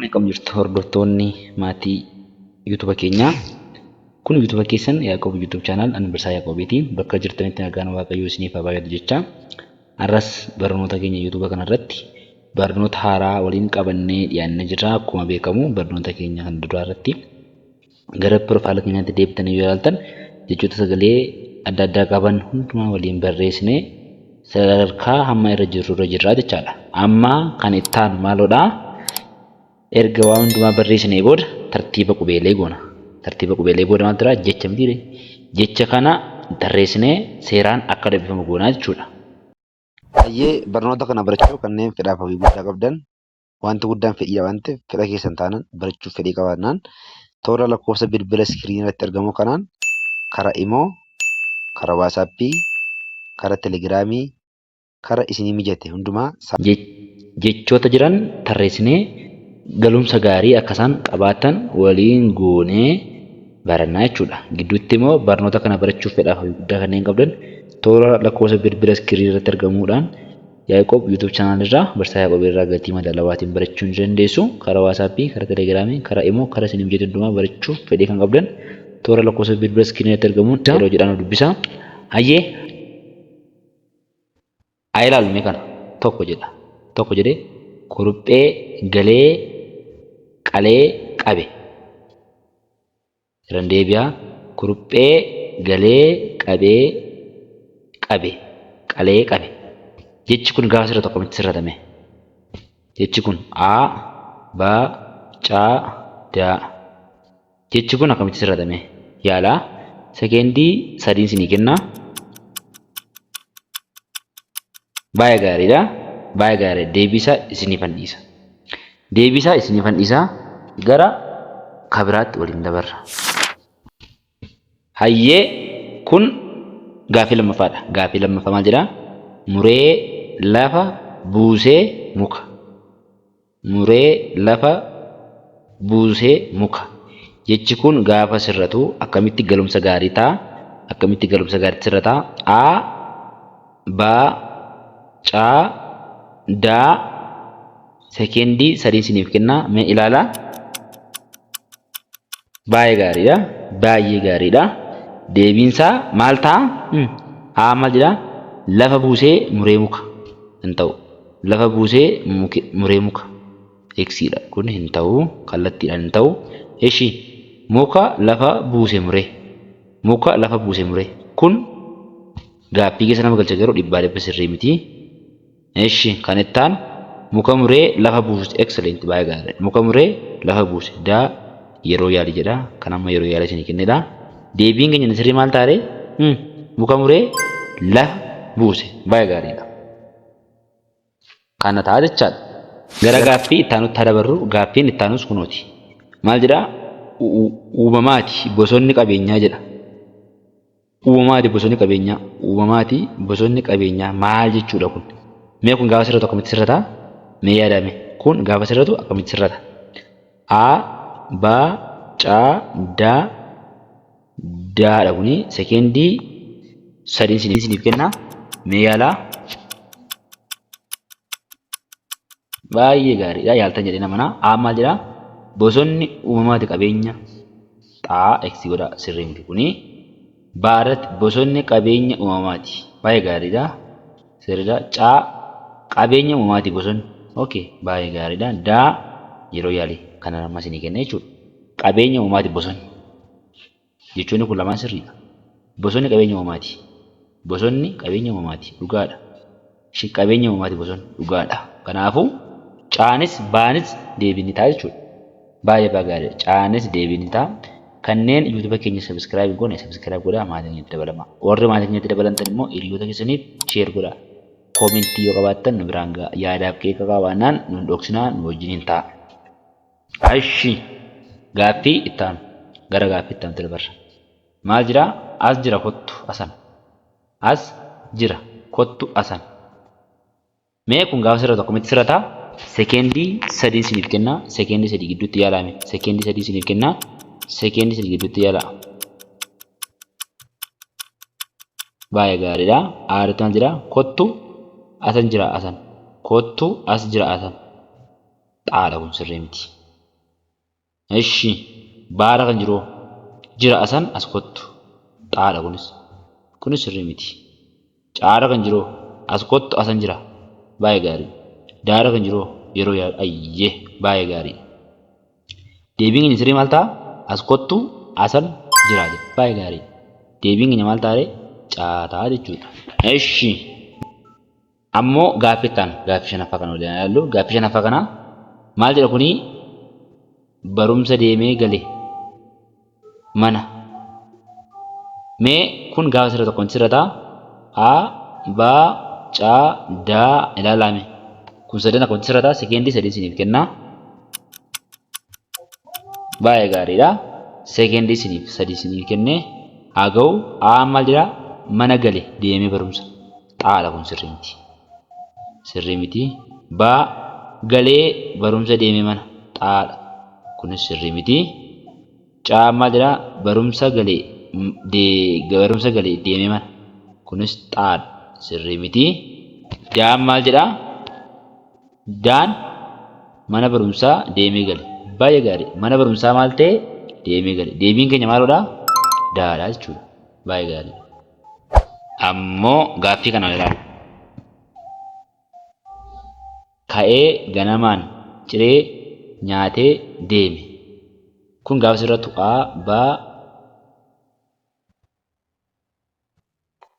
Akkam jirtu hordoftoonni maatii Yuutuuba keenyaa. Kun Yuutuuba keessan Yaaqoob Yuutuub Chaanaal ani Barsiisaa Yaaqoobiiti. Bakka jirtanitti nagaan Waaqayyoo isiniif haa baay'atu jechaa har'as barnoota keenya Yuutuuba kanarratti barnoota haaraa waliin qabannee dhiyaannee jirra. Akkuma beekamu barnoota keenya kan duraa irratti gara piroofaayila keenyaatti deebitanii yoo ilaaltan jechoota sagalee adda addaa qaban hundumaa waliin barreessinee sadarkaa hamma irra jirru irra jirra jechaadha. Amma kan itti aanu maaloodha? Erga waan hundumaa barreessinee booda tartiiba qubeelee goona. Tartiiba qubeelee booda maal jira? Jecha mitiire. Jecha kana tarreessinee seeraan akka dubbifamu goona jechuudha. Hayyee barnoota kana barachuu kanneen fedhaaf hawwii guddaa qabdan wanti guddaan fedhiidha waan ta'eef fedha keessan taanaan barachuuf fedhii qabaannaan toora lakkoofsa bilbila iskiriinii irratti argamu kanaan kara imoo, kara waasaappii, kara telegiraamii, kara isinii mijate hundumaa saa. Jechoota jiran tarreessinee galumsa gaarii akka isaan qabaatan waliin goonee barannaa jechuudha. Gidduutti immoo barnoota kana barachuuf fedhaaf hawwii guddaa kanneen qabdan toora lakkoofsa bilbila iskiriinii irratti argamuudhaan Yaiqob YouTube channel irraa barsisaa Yaiqob irraa gatii madaalawaatiin barachuu ni dandeessu. Karaa WhatsApp, karaa Telegram, karaa imo, karaa isin mijate hundumaa barachuuf fedhii kan qabdan toora lakkoofsa bilbila screen irratti argamuun yeroo jedhaan nu dubbisa. Hayyee haa ilaallu mee kana tokko jedha tokko jedhee kuruphee galee qalee qabe. Irran deebi'a, Kuruphee galee qabee qabe qalee qabe Jechi kun gaafa sirratu akkamitti sirrata mee? Jechi kun a, ba, ca, da Jechi kun akkamitti sirrata mee? Yaala. Sekeendii sadiin sinii kenna. Baay'ee gaariidha. Baay'ee gaariidha. Deebiisa isiniifan dhiisa. Deebisaa isinifan dhisaa gara ka biraatti waliin dabarra. Hayyee kun gaaffii lammaffaadha. Gaaffii lammaffaa maal jedha? Muree lafa buusee muka. Muree lafa buusee muka. Jechi kun gaafa sirratu akkamitti galumsa gaarii ta'a? Akkamitti galumsa gaariitti sirrata? A, B, C, D. Sekeendii sadii isiniif kenna mee ilaalaa. Baay'ee gaariidha. Baay'ee gaariidha. Deebiinsaa maal ta'a? Hmm. Haa maal jedha? Lafa buusee muree muka hin ta'u. Lafa buusee muke- muree muka. Eksiidha. Kun hin ta'u. Kallattiidhaan hin ta'u. Eshi muka lafa buuse muree. Muka lafa buuse muree. Kun gaaffii keessa nama galcha garuu dhibbaa dhibba sirrii miti. Eshi kan itti aanu muka muree lafa buusuti excellent baay'ee gaariidha muka muree lafa buuse da yeroo yaali jedha kan amma yeroo yaala isinii kennedha deebiin keenya inni sirrii maal taare hmm muka muree lafa buuse baay'ee gaariidha kana ta'a jechaadha gara gaaffii itti aanutti haa dabarru gaaffiin itti aanus kunooti maal jedha uumamaati bosonni qabeenyaa jedha Uumamaatii bosonni qabeenyaa Uumamaatii bosonni qabeenyaa maal jechuudha kun? Mee kun gaafa sirratu akkamitti sirrata? Mee yaadaa mee kun gaafa sirratu akkamitti sirrata? A ba ca da da dha kuni sekeendii sadiin isiniif kenna mee yaalaa. Baay'ee gaariidha. Yaaltan jedheen amana. A maal jedha? Bosonni uumamaati qabeenya xaa x godha sirrii miti kuni. B irratti bosonni qabeenya uumamaati. Baay'ee gaariidha. Sirriidha. C qabeenya uumamaati bosonni. Okay, baay'ee gaariidha. D yeroo yaalii kanan amma isinii kenne jechuudha. Qabeenya uumamaati bosonni. Jechoonni kun lamaan sirriidha. Bosonni qabeenya uumamaati. Bosonni qabeenya uumamaati. Dhugaadha. Ishi qabeenya uumamaati bosonni. Dhugaadha. Kanaafuu, caanis baanis deebii ni ta'a jechuudha. Baay'ee baay'ee gaariidha. Caanis deebii ni ta'a. Kanneen YouTube keenya subscribe hin goone subscribe godhaa maatii keenyatti dabalamaa. Warri maatii keenyatti dabalamtan immoo hiriyoota keessaniif share godhaa. Comment yoo qabaattan nu biraan gahaa. Yaadaaf qeeqa qabaannaan nu hin dhoksinaa nu wajjiniin ta'aa. Ashi! Gaaffii itti aanu. Gara gaaffii itti aanutti dabarra. Maal jira? As jira kottu asan. As jira kottu asan. Mee kun gaafa sirratu akkamitti sirrata? Sekeendii sadiin isiniif kenna. Sekeendii sadii gidduutti yaalaa mee. Sekeendii sadii isiniif kenna. Sekeendii sadii gidduutti yaalaa. Baay'ee gaariidha. Aaritti maal jira? Kottu asan jira asan. Kottu as jira asan. Xaala kun sirrii miti. Eshi baara kan jiroo jira asan as kottu xaala kunis kunis sirrii miti caara kan jiroo as kottu asan jira baay'ee gaarii daara kan jiroo yeroo yaadu ayye baay'ee gaarii deebiin keenya sirrii maal ta'a as kottu asan jira jedha baay'ee gaarii deebiin keenya maal ta'a ree caataa jechuudha eshi Ammo gaaffi itti aanu, gaaffi shanaffaa kana waliin haa ilaallu. Gaaffi shanaffaa kana maal jedha kuni barumsa deemee gale mana. Mee kun gaafa sirrata akkamitti sirrata? A, B, C, D ilaalaa mee. Kun sadan akkamitti sirrata? Sekeendii sadii isiniif kenna. Baay'ee gaariidha. Sekeendii isiniif sadii isiniif kenne haa ga'u. A'aan maal jedha? Mana gale deemee barumsa. xaala kun sirri miti sirri miti ba galee barumsa deeme mana xaala kunis sirri miti ca mal jedha barumsa galee de barumsa galee deeme mana kunis xaal sirri miti daan mal jedha daan mana barumsa deeme gale baye gari mana barumsa mal ta'e deeme gale deebiin keenya maalodha daadha jechuudha baye gari. Ammoo gaaffii kana ilaali. Ka'ee ganamaan ciree nyaatee deeme. Kun gaafa sirra tu'a B.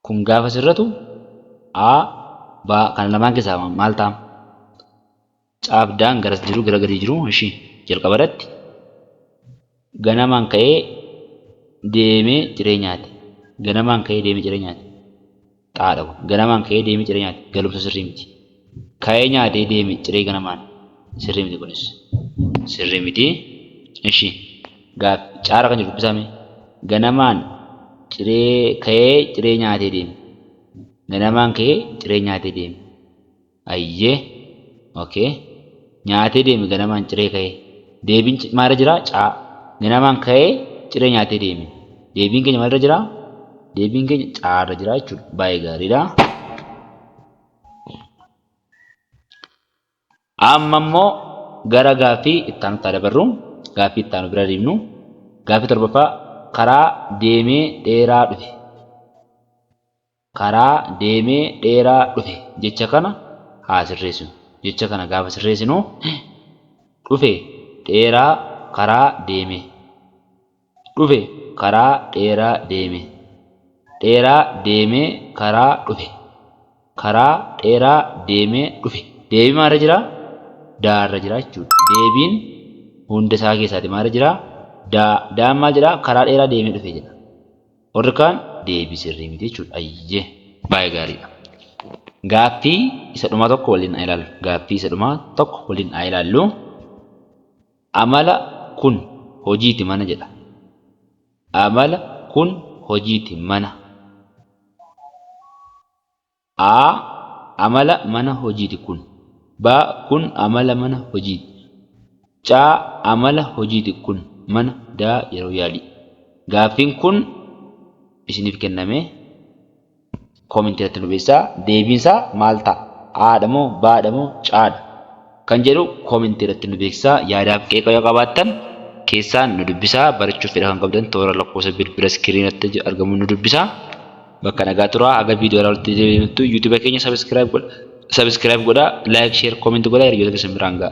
Kun gaafa sirratu A. B. Kana lamaan keessaa maal ta'a? Caabdaan garas jiru gara gadii jiru ishii jalqaba irratti ganamaan ka'ee deemee ciree nyaate. Ganamaan ka'ee deemee ciree nyaate. Xaadha kun. Ganamaan ka'ee deemee ciree nyaate. Galumsa sirrii miti. Ka'ee nyaatee deeme ciree ganamaan. Sirrii miti kunis. Sirrii miti. Ishi. Gaaffii. Caara kan jiru dubbisaa mee. Ganamaan ciree ka'ee ciree nyaatee deeme. Ganamaan ka'ee ciree nyaatee deeme. Ayyee ok Nyaatee deeme ganamaan ciree ka'ee Deebiin C maalirra jira? C Ganamaan ka'ee ciree nyaatee deeme Deebiin keenya maalirra jira? Deebiin keenya C irra jira jechuudha. Baay'ee gaariidha. Amma immoo gara gaaffii itti aanutti haa dabarru. Gaaffii itti aanu bira deemnu. Gaaffii torbaffaa karaa deemee dheeraa dhufe. karaa deemee dheeraa dhufe jecha kana haa sirreessinu. Jecha kana gaafa sirreessinu dhufe dheeraa karaa deeme dhufe karaa dheeraa deeme dheeraa deemee karaa dhufe karaa dheeraa deemee dhufe deebii maalirra jira? daa irra jira jechuudha. Deebiin hunda isaa keessaati maalirra jira? daa. Daan maal jedha? Karaa dheeraa deemee dhufe jedha. Warri kaan deebii sirrii miti jechuudha. Ayyee. Baay'ee gaariidha. Gaaffii isa dhumaa tokko waliin haa ilaallu. Gaaffii isa dhumaa tokko waliin haa ilaallu. Amala kun hojiiti mana jedha. Amala kun hojiiti mana. A, Amala mana hojiiti kun. B, Kun amala mana hojiiti. C, Amala hojiiti kun mana. D, Yeroo yaalii. Gaaffiin kun isiniif kenname. Comment irratti nu beeksisaa. Deebiin isaa maal ta'a? A dha moo? B dha moo? C dha? Kan jedhu comment irratti nu beeksisaa. Yaadaaf qeeqa yoo qabaattan keessaan nu dubbisaa. Barachuuf fedha kan qabdan toora lakkoofsa bilbila screen irratti argamuun nu dubbisaa. Bakka nagaa turaa. Haga viidiyoo irraa walitti deebinutti YouTube keenya subscribe godha, subscribe godha, like, share, comment godha hiriyoota keessan biraan ga'a.